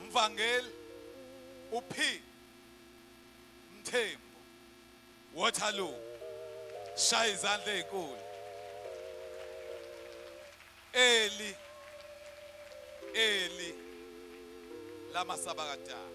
Mvangeli uP Mthembu Waterloo shaya izandla ezinkulu Eli Eli lama sabakadala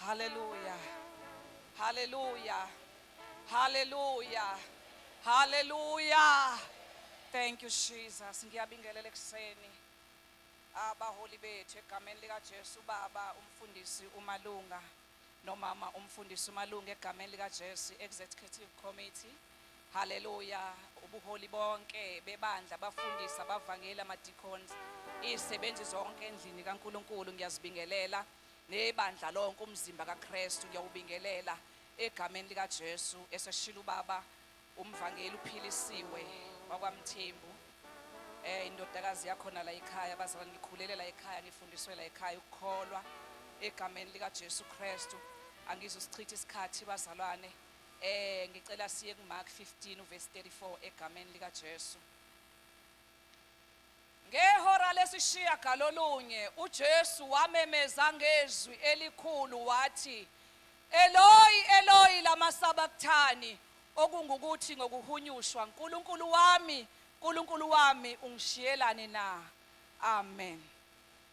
Haleluya. Haleluya. Haleluya. Haleluya. Thank you Jesus. Ngiyabingelela ekuseni abaholi bethu egameni lika Jesu baba umfundisi umalunga nomama umfundisi umalunga egameni lika Jesu executive committee. Haleluya. Ubuholi bonke bebandla abafundisi abavangeli ama deacons izisebenzi zonke endlini kaNkuluNkulu ngiyazibingelela. Nebandla lonke umzimba kaKristu ngiyawubingelela egameni likaJesu eseshilo ubaba umvangeli uphilisiwe wakwaMthembu eh indodakazi yakhona la ekhaya abazalwane ngikhulele la ekhaya ngifundiswe la ekhaya ukukholwa egameni likaJesu Kristu angizusichitha isikhathi bazalwane eh ngicela siye kuMark 15 uverse 34 egameni likaJesu Ngehora lesishiyagalolunye uJesu wamemeza ngezwi elikhulu wathi, Eloyi, Eloyi, lama sabakthani? okungukuthi, ngokuhunyushwa, Nkulunkulu wami, Nkulunkulu wami, ungishiyelani na? Amen.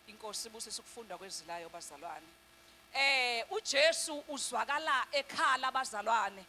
INkosi ibusise ukufundwa kwezwi layo bazalwane. Eh uJesu uzwakala ekhala bazalwane.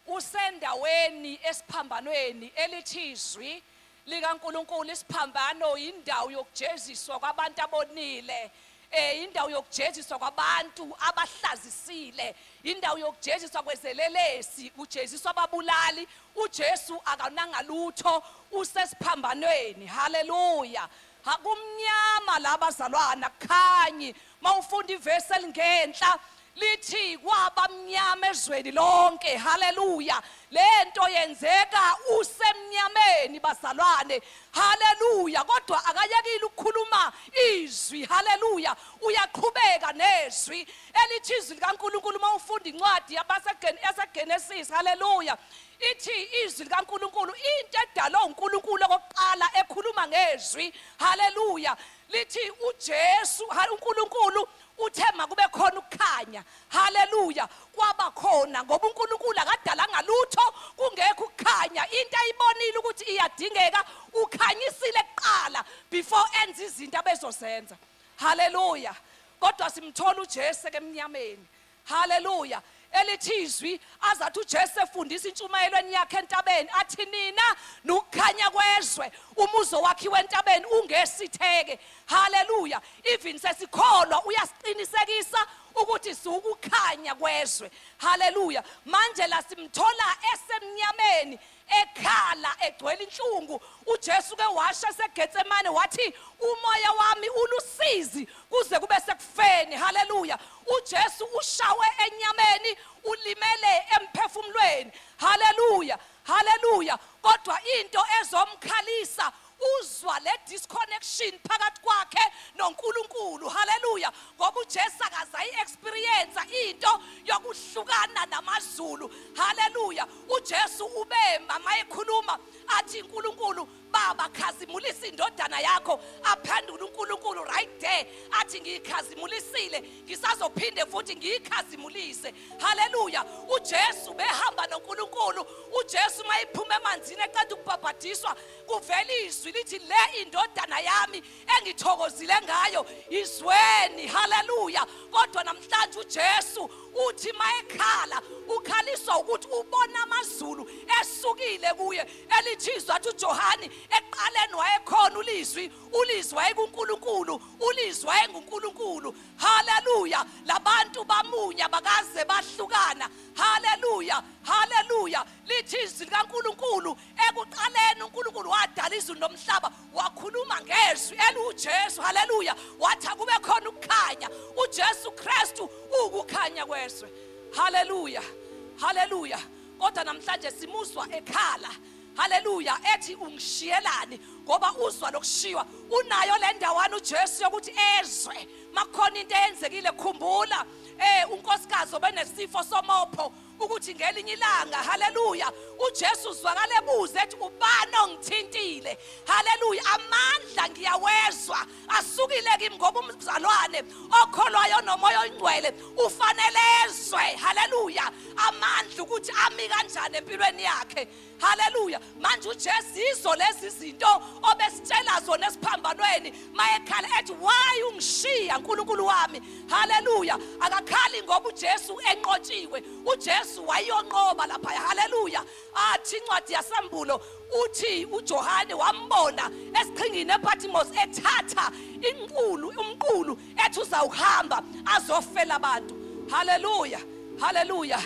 Kusendaweni esiphambanweni elithi iZwi likaNkulunkulu. Isiphambano yindawo yokujeziswa kwabantu abonile, eh, yindawo yokujeziswa kwabantu abahlazisile, yindawo yokujeziswa kwezelelesi, kujeziswa ababulali. UJesu akananga lutho, usesiphambanweni. Haleluya! Ha, kumnyama la bazalwana, akukhanyi. mawufunda ivesi elingenhla lithi kwabamnyama ezweni lonke haleluya lento yenzeka usemnyameni bazalwane haleluya kodwa akayekile ukukhuluma izwi haleluya uyaqhubeka nezwi elithi izwi likaNkuluNkulu uma ufunda incwadi yabaseGenesis haleluya ithi izwi likaNkuluNkulu into edalwe uNkuluNkulu okokuqala ekhuluma ngezwi haleluya lithi uJesu ha- uNkulunkulu uthe makube khona ukukhanya haleluya kwaba khona ngoba uNkulunkulu akadalanga lutho kungekho ukukhanya into ayibonile ukuthi iyadingeka ukhanyisile kuqala before enza izinto abezozenza haleluya kodwa simthola uJesu ke emnyameni Haleluya. Elithi izwi azathi uJesu efundisa intshumayelweni yakhe entabeni athi nina nukukhanya kwezwe umuzo wakhiwe entabeni ungesitheke. Haleluya. Even sesikholwa uyasiqinisekisa ukuthi siwukukhanya kwezwe. Haleluya. Manje la simthola esemnyameni Ekhala egcwele inhlungu, uJesu uke washo eseGetsemane wathi, Umoya wami ulusizi kuze kube sekufeni. Haleluya! UJesu ushawe enyameni, ulimele emphefumulweni. Haleluya! Haleluya! Kodwa into ezomkhalisa uzwa le disconnection phakathi kwakhe noNkulunkulu haleluya ngoba uJesu akaze ayi-experience into yokuhlukana namazulu haleluya uJesu ubema mayekhuluma athi uNkulunkulu baba khazimulisa indodana yakho aphendula uNkulunkulu right there athi ngiyikhazimulisile ngisazophinde futhi ngiyikhazimulise haleluya uJesu behamba noNkulunkulu uJesu mayiphuma emanzini eqeda ukubhabhadiswa kuvela izwi lithi le indodana yami engithokozile ngayo izweni haleluya kodwa namhlanje uJesu uthi mayekhala ukhaliswa ukuthi ubona amazulu esukile kuye elithizwa athi uJohane eqaleni wayekhona ulizwi ulizwi wayekuNkulunkulu ulizwi wayenguNkulunkulu haleluya labantu bamunya bakaze bahlukana haleluya haleluya lithi izwi likaNkulunkulu ekuqaleni uNkulunkulu wadala izulu nomhlaba wakhuluma ngezwi eliwuJesu haleluya wathi akube khona ukukhanya uJesu Kristu ukukhanya kwezwe haleluya haleluya kodwa namhlanje simuzwa ekhala haleluya ethi ungishiyelani ngoba uzwa lokushiywa unayo le ndawana uJesu yokuthi ezwe makukhona into eyenzekile khumbula eh unkosikazi obenesifo somopho ukuthi ngelinye ilanga haleluya uJesu uzwakala ebuza ethi ubani ongithintile haleluya amandla ngiyawezwa asukile kimi ngoba umzalwane okholwayo nomoya oyingcwele ufanelezwe haleluya amandla ukuthi ami kanjani empilweni yakhe haleluya manje ujesu yizo lezi zinto obesitshela zona esiphambanweni mayekhala ethi why ungishiya nkulunkulu wami haleluya akakhali ngoba ujesu enqotshiwe ujesu wayonqoba lapha haleluya athi incwadi yasembulo uthi ujohane wambona esiqhingini epatimosi ethatha inqulu umqulu ethi uzawuhamba azofela abantu haleluya haleluya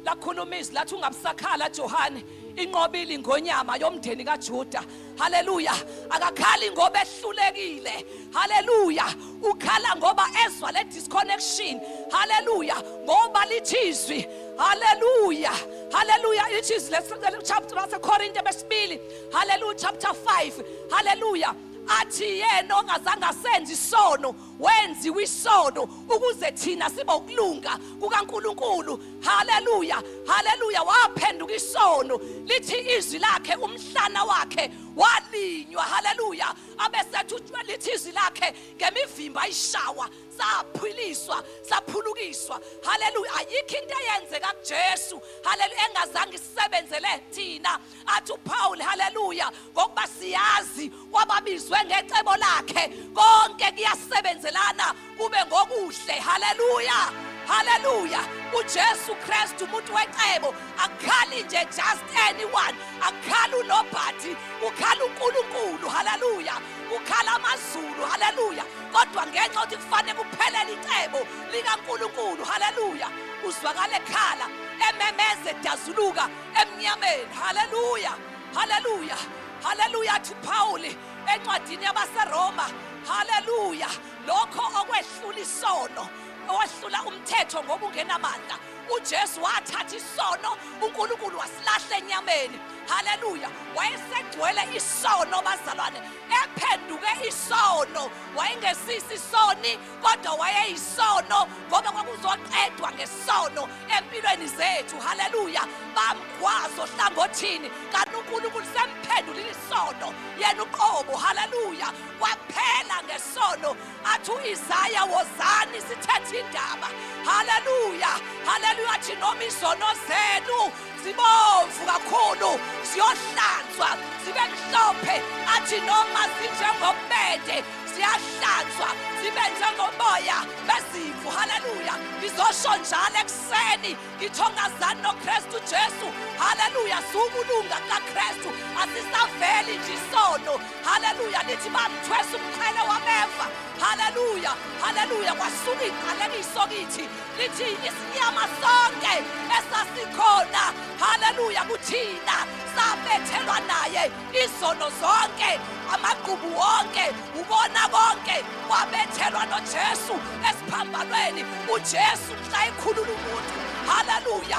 lakhuluma izwi lathi ungabusakhala johane inqobile ingonyama yomndeni kaJuda haleluya akakhali ngoba ehlulekile haleluya ukhala ngoba ezwa le disconnection haleluya ngoba lithizwi haleluya haleluya lithizwi le chapter wasekorinte besibili haleluya chapter 5 haleluya athi yena ongazange asenze isono wenziwa isono ukuze thina sibe ukulunga kukaNkuluNkulu haleluya haleluya waphenduka isono lithi izwi lakhe umhlana wakhe walinywa haleluya abesethi utshwe lithi izwi lakhe ngemivimba ayishawa saphiliswa saphulukiswa haleluya ayikho into eyenzeka kuJesu haleluya engazange isebenzele thina athi uPaul haleluya ngokuba siyazi wababizwe ngecebo lakhe konke kuyasebenzelana kube ngokuhle haleluya haleluya uJesu Kristu umuntu wecebo akukhali nje just anyone akukhali unobhathi ukhala uNkulunkulu haleluya ukhala amazulu haleluya kodwa ngenxa ukuthi kufanele kuphelele icebo likaNkulunkulu haleluya uzwakala ekhala ememeze dazuluka emnyameni haleluya haleluya haleluya athi uphawuli encwadini yabaseroma haleluya lokho okwehlula isono owehlula umthetho ngoba ungenamandla uJesu wathatha isono uNkulunkulu wasilahla enyameni haleluya wayesegcwele isono bazalwane ephenduke isono wayengesisi isoni kodwa wayeyisono ngoba kwakuzoqedwa ngesono empilweni zethu haleluya bamgwazo hlangothini kanti unkulunkulu semphendulile isono yena uqobo haleluya kwaphela ngesono athi u-isaya wozani sithethe indaba haleluya haleluya athi noma izono zenu zibomvu kakhulu ziyohlanzwa zibe mhlophe athi noma zinjengobede ziyahlanzwa zibe njengomoya bezimvu haleluya ngizosho njalo ekuseni ngithongazani nokristu jesu haleluya siwukulunga kukakristu asisaveli nje isono haleluya lithi bamthwesa umqhele wameva haleluya haleluya kwasuka iqalekiso kithi lithi isinyama sonke esasikhona haleluya kuthina sabethelwa naye izono zonke amagqubu wonke ubona konke kwabethelwa nojesu esiphambanweni ujesu mhla ekhulula umuntu haleluya